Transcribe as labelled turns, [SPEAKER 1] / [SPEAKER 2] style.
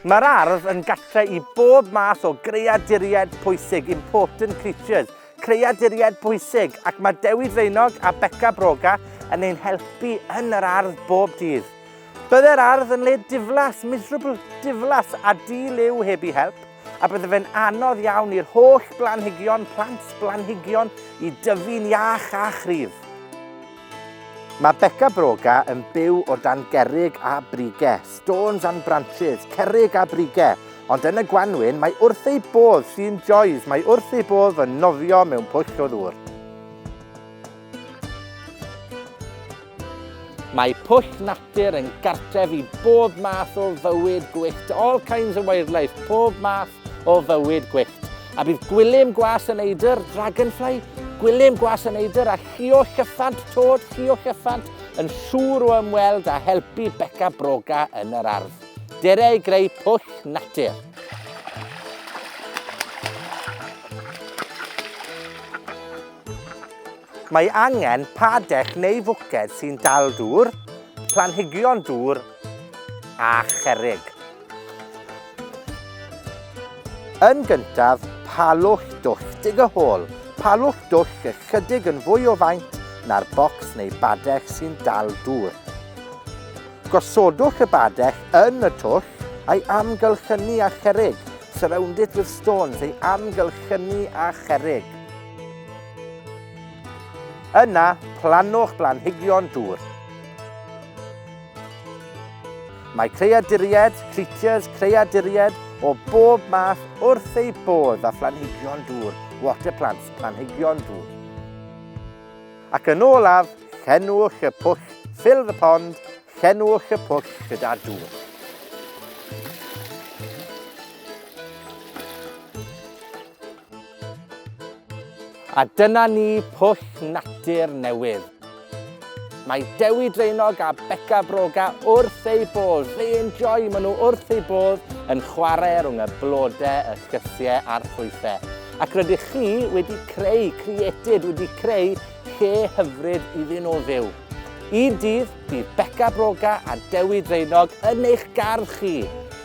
[SPEAKER 1] Mae'r ardd yn gatre i bob math o greaduriaid pwysig, important creatures, creaduriaid pwysig, ac mae Dewi Draenog a Beca Broga yn ein helpu yn yr ardd bob dydd. Byddai'r ardd yn le diflas, miserable, diflas a di-liw heb i help, a bydde fe'n anodd iawn i'r holl blanhigion, plant blanhigion, i dyfu'n iach a chryf. Mae Beca Broga yn byw o dan gerrig a brige, stones and branches, cerrig a brige, ond yn y gwanwyn mae wrth ei bodd, she enjoys, mae wrth ei bodd yn nofio mewn pwll o ddŵr. Mae pwll natur yn gartref i bob math o fywyd gwyllt, all kinds of wildlife, pob math o fywyd gwyllt. A bydd gwilym gwas y neidr, dragonfly, gwilym gwas y neidr a llio llyffant, tod, llio llyffant, yn siŵr o ymweld a helpu beca broga yn yr ardd. Dere i greu pwll natur. Mae angen padell neu fwced sy'n dal dŵr, planhigion dŵr a cherrig. Yn gyntaf, palwch dwll dig y hôl. Palwch dwll ychydig yn fwy o faint na'r bocs neu badell sy'n dal dŵr. Gosodwch y badell yn y twll a'i amgylchynu â cherrig. Surround it with stones, ei amgylchynu â cherrig. Yna, plannwch blanhigion dŵr. Mae creaduriaid, creatures, creaduriaid, o bob math wrth eu bodd â phlanhigion dŵr, water plants, planhigion dŵr. Ac yn olaf, llenwch y pwll, fill the pond, llenwch y pwll gyda dŵr. A dyna ni, pwll natur newydd. Mae Dewi Draenog a Beca Broga wrth eu bodd. They enjoy, maen nhw wrth eu bodd yn chwarae rhwng y blodau, y llysiau a'r ffrwythau. Ac rydych chi wedi creu, created, wedi creu lle hyfryd iddyn nhw fyw. Un dydd, bydd Beca Broga a Dewi Draenog yn eich gardd chi.